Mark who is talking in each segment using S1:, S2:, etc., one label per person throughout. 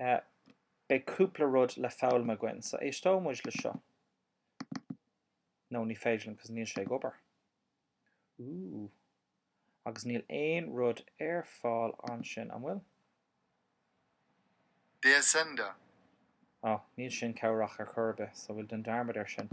S1: Beidh cúpla rud le foghlaim againn so éisteoidh muid le seo. No ní féidir liom cos níl sé ag obair. Ooh. Agus níl aon rud ar fáil ansin, an
S2: bhfuil? Der Sender. Oh,
S1: níl sin cabhrach ar chor ar bith so bhuel déan dearmad air sin.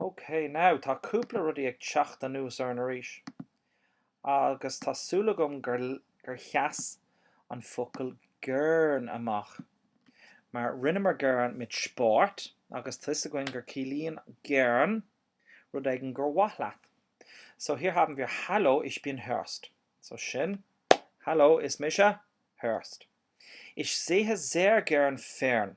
S1: OK, now tá cúpla rudaí ag teacht anuas orainn arís, agus tá súil agam gur gur sheas an focal gern amach, mar rinneamar gern mit Sport, agus tá a fhios againn gur ciallaíonn gern rud éigin gur mhaith leat. So hier haben wir Hallo, ich bin Horst. So sin Hallo, is mise Horst. Ich sehe sehr gern fern.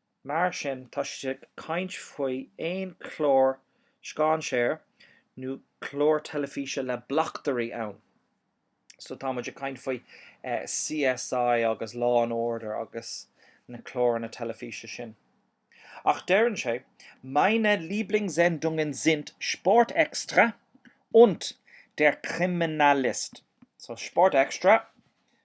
S1: Mar sin, tá siad ag caint faoi aon chlár scéinséir nó clár teilifíse le bleachtairí ann. So tá muid ag caint faoi CSI agus Law and Order agus na cláranna teilifíse sin. Ach deireann sé, Meine Lieblingssendungen sind Sport Extra und Der Kriminalist. So Sport Extra,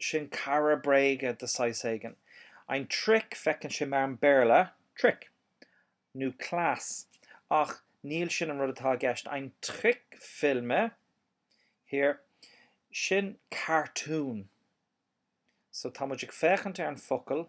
S1: sin cara bréige de shaghas éigin. Ein Trick, féachann sé mar an Béarla, trick, nó cleas, ach níl sin an rud atá i gceist, ein Trickfilme, hier, sin cartún. So, tá muid ag féachaint ar an focal.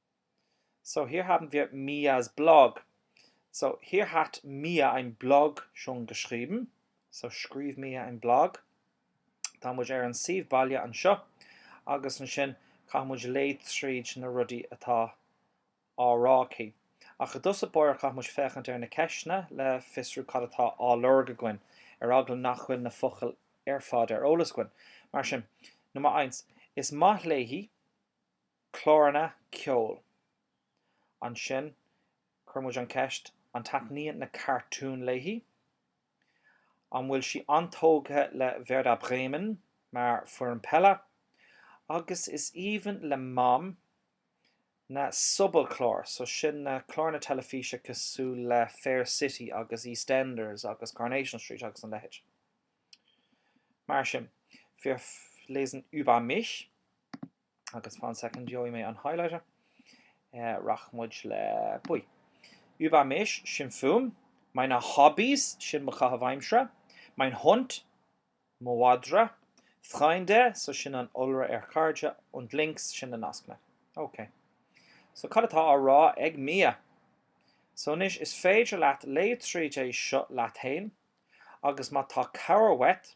S1: So hier haben wir Mia's Blog. So hier hat Mia ein Blog schon geschrieben. So scríobh Mia ein Blog. Tá muid ar an suíomh baile anseo agus ansin caithfidh muid léamh tríd na rudaí atá á rá aici. Ach i dtús báire caithfidh muid féachaint ar na ceisteanna le fiosrú cad atá á lorg againn, ar eagla nach bhfuil na focail ar fad ar eolas againn. Mar sin, Nummer eins, is maith léi. cláranna ceoil. Ansin cuireann muid an cheist, an taitníonn na cartúin léi? An bhfuil sí an-tógtha le Werder Bremen mar foirne peile? Agus is aoibhinn le Mam na sobalchlár, so sin na cláranna teilifíse cosúil le Fair City agus EastEnders agus Coronation Street agus an leithéid mar sin. Wir lesen über mich. agus fan second gheobhaidh mé an highlighter rachaidh muid le buí über mich sin fúm meine Hobbys sin mo chaitheamh aimsire mein Hund mo mhadra Freunde so sin an iolra ar chairde und links sin na nascanna ok so cad atá á rá ag mia? so anois is féidir leat léamh tríd é seo leat fhéin agus má tá cabhair uait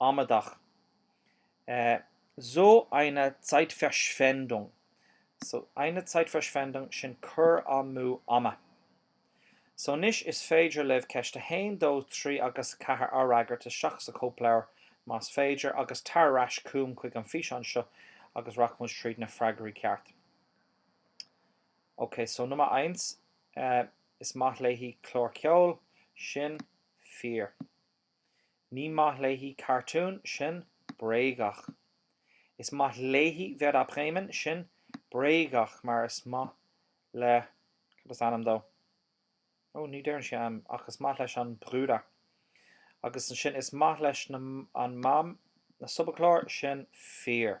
S1: amaideach, so eine Zeitverschwendung, so eine Zeitverschwendung, sin cur amú ama. So anois is féidir libh ceist a haon, dó, trí agus a ceathair a fhreagairt isteach sa chóipleabhar más féidir agus tar ar ais chugam chuig an bhfíseán seo agus rachaimid tríd na freagraí cearta. Ok, so Nummer eins, is maith léi cláir ceoil, sin fíor. Ní maith léi cartún, sin bréagach. Is maith léi Werder Bremen, sin bréagach mar is maith le, cad is ainm dó? Ó, ní deireann sé ainm, ach is maith leis an Bruder. Agus ansin is maith leis na, an Mam, na sobalchláir, sin fíor.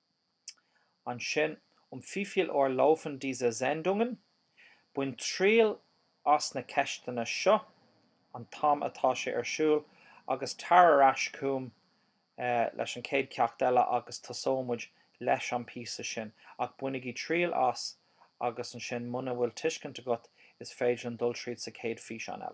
S1: ansin, um wie viel Uhr laufen diese Sendungen, bain triail as na ceisteanna seo, an t-am atá sé ar siúl, agus tar ar ais chugam leis an chéad cheacht eile agus tosóidh muid leis an bpíosa sin, ach bainigí triail as agus ansin muna bhfuil tuiscint agat is féidir liom dul tríd sa chéad físeán eile.